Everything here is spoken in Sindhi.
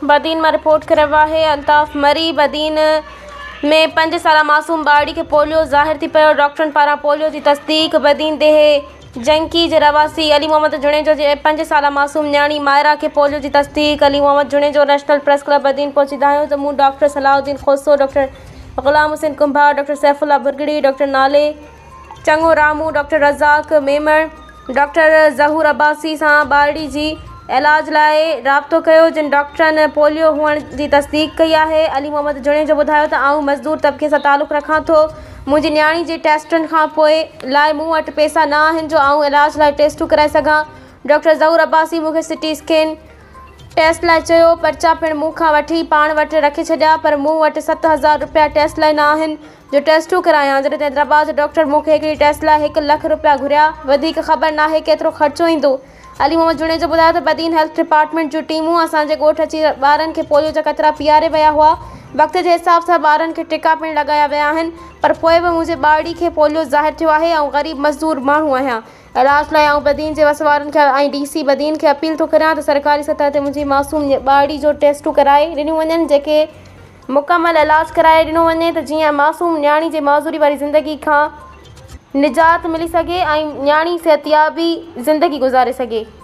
بدين مان رپورٽ ڪري رهيو آهي الطاف مري، بدين ۾ پنج سالا معصوم ٻارڙي کي پوليو ظاهر ٿي پيو، ڊاڪٽرن پاران پوليو جي تصديق، بدين ديهي جنڪي جي رهواسي علي محمد جوڻيجو جي پنج سالا معصوم نياڻي مائرا کي پوليو جي تصديق، Ali Muhammad Junejo national press club Badin پهچي دانهيو ته مون doctor Salah Uddin Khoso, doctor Ghulam Hussain Kumbhar, doctor Saif Ullah Bhurgri, doctor نالي. چڱو رامون ڊاڪٽر رزاق ميمڻ ڊاڪٽر ظهور عباسي سان ٻارڙي جي علاج لاء رابطو ڪيو جن ڊاڪٽرن پوليو هئڻ جي تصديق ڪئي آهي علي محمد جوڻيجو ٻڌايو ته آئون مزدور طبقي سان تعلق رکان ٿو منهنجي نياڻي جي ٽيسٽن کان پوء لاء مون وٽ پيسا نه آهن جو آئون علاج لاء ٽيسٽون ڪرائي سگهان ڊاڪٽر ظهور عباسي مون کي سٽي اسڪين ٽيسٽ لاء چيو پرچا پڻ مون کان وٺي پاڻ وٽ رکي ڇڏيا پر مون وٽ ست هزار روپيا ٽيسٽ لاء نه آهن جو ٽيسٽون ڪرايان جڏهن ته حيدرآباد جو ڊاڪٽر مون کي هڪڙي ٽيسٽ لاء هڪ لک رپيا گهريا وڌيڪ خبر ناهي ڪيترو خرچو ايندو علي محمد جوڻيجو ٻڌايو ته بدين هيلٿ ڊپارٽمينٽ جون ٽيمون اسان جي ڳوٺ اچي ٻارن کي پوليو جا قطرا پيئاري ويا هئا وقت جي حساب سان ٻارن کي ٽڪا پڻ لڳايا ويا آهن پر پوء به منهنجي ٻارڙي کي پوليو ظاهر ٿيو آهي آئون غريب مزدور ماڻهو آهيان علاج لاء آئون بدين جي وسوارن کي ۽ ڊي سي بدين کي اپيل ٿو ڪريان ته سرڪاري سطح تي منهنجي معصوم ٻارڙي جو ٽيسٽون ڪرائي ڏنيون وڃن جيڪي مڪمل علاج ڪرائي ڏنو وڃي ته جيئن معصوم نياڻي جي معذوري واري زندگي کان نجات ملي سگهي ۽ نياڻي صحتيابي زندگي گذاري سگهي.